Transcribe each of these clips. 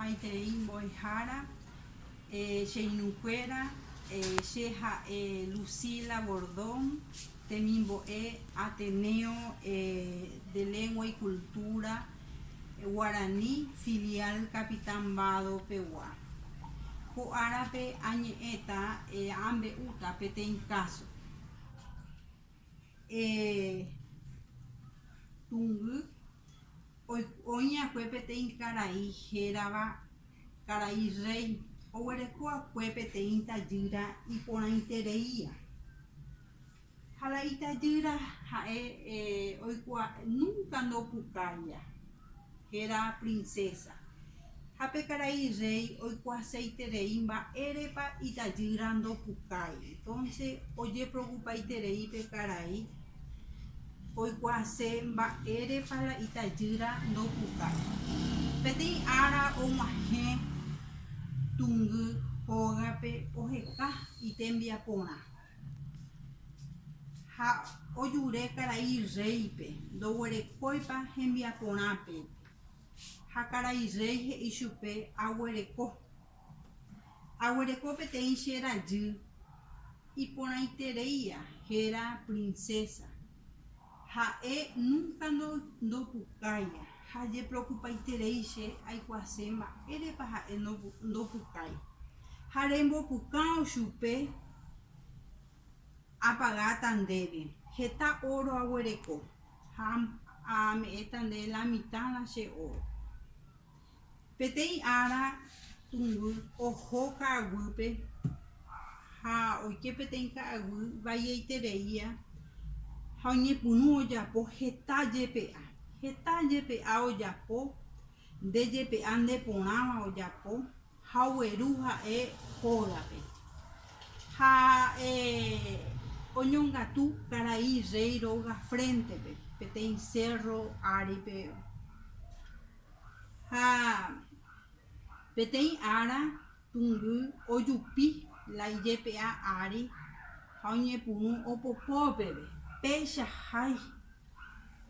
Maitei mbo'ehára, che irũkuéra, che ha'e Lucila Bordón, temimbo'e Ateneo de Lengua y Cultura Guarani, filial Capitán Mbado pegua. Ko árape añe'ẽta, ambe'úta peteĩ káso. Tungy oĩ'akue peteĩ karai hérava Karai Rréi, oguereko'akue peteĩ tajýra iporãitereíva. Ha la itajýra ha'e oikuaa, núnka ndopukáiva. Héra princesa. Ha pe karai rréi oikuaaseiterei mba'érepa itajýra ndopukái. Entonce ojeprokupaiterei pe karai oikuaase mba'érepa la itajýra ndopukái. Peteĩ ára og̃uahẽ tungy hógape oheka itembiaporã. Ha ojure karai rréipe, ndoguerekóipa hembiaporãpe. Ha karai rréi he'i chupe, Aguereko. Aguereko peteĩ che rajy iporãitereia héra prinsésa. Ha'e núnka ndopukái ha ajeprokupaiterei che aikuaase mba'érepa ha'e ndopukái. Ha rembopukão chupe apagáta ndéve heta óro aguereko ha ame'ẽta nde la mitãrã che óro. Peteĩ ára tũnguy oho ka'aguýpe ha oike peteĩ ka'aguy vaieitereia ha oñepyrũ ojapo heta jepe'a. Heta jepe'a ojapo, nde jepe'a nde porãva ojapo ha ogueru ha'e hógape. Ha'e oñongatu karai rréi róga fréntepe, peteĩ sérro áripe Ha peteĩ ára tũngy ojupi la ijepe'a ári ha oñepyrũ opopo peve, péicha hái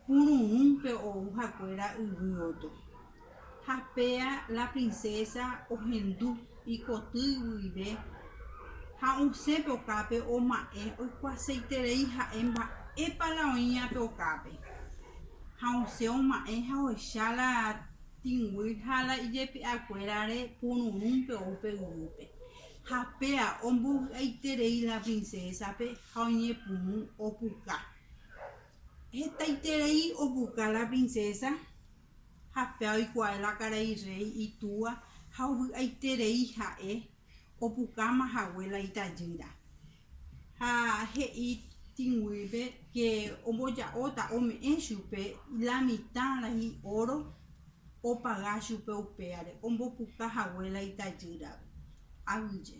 pururũ pe ou hakuéra yvy oto. Ha péa la princesa ohendu. Ikotýi guive ha osẽpe okápe oma'ẽ oikuaaseiterei ha'e mba'épa la oĩ ápe okápe, ha osẽ oma'ẽ ha ohecha la tĩgui ha la ijepi'akuérare pururũnpe ou pe yvýpe. Ha péa ombovy'aiterei la princesape ha oñepyrũ opuka. Hetaiterei opuka la princesa Ha péva oikuaái la karai rréi itúa ha ovy'aiterei ha'e opukáma hague la itajýra. Ha he'i tĩguýpe ke omboja'óta ome'ẽ chupe la mitã rãi óro opaga chupe upévare ombopuka hague la itajýrape. Aguyje.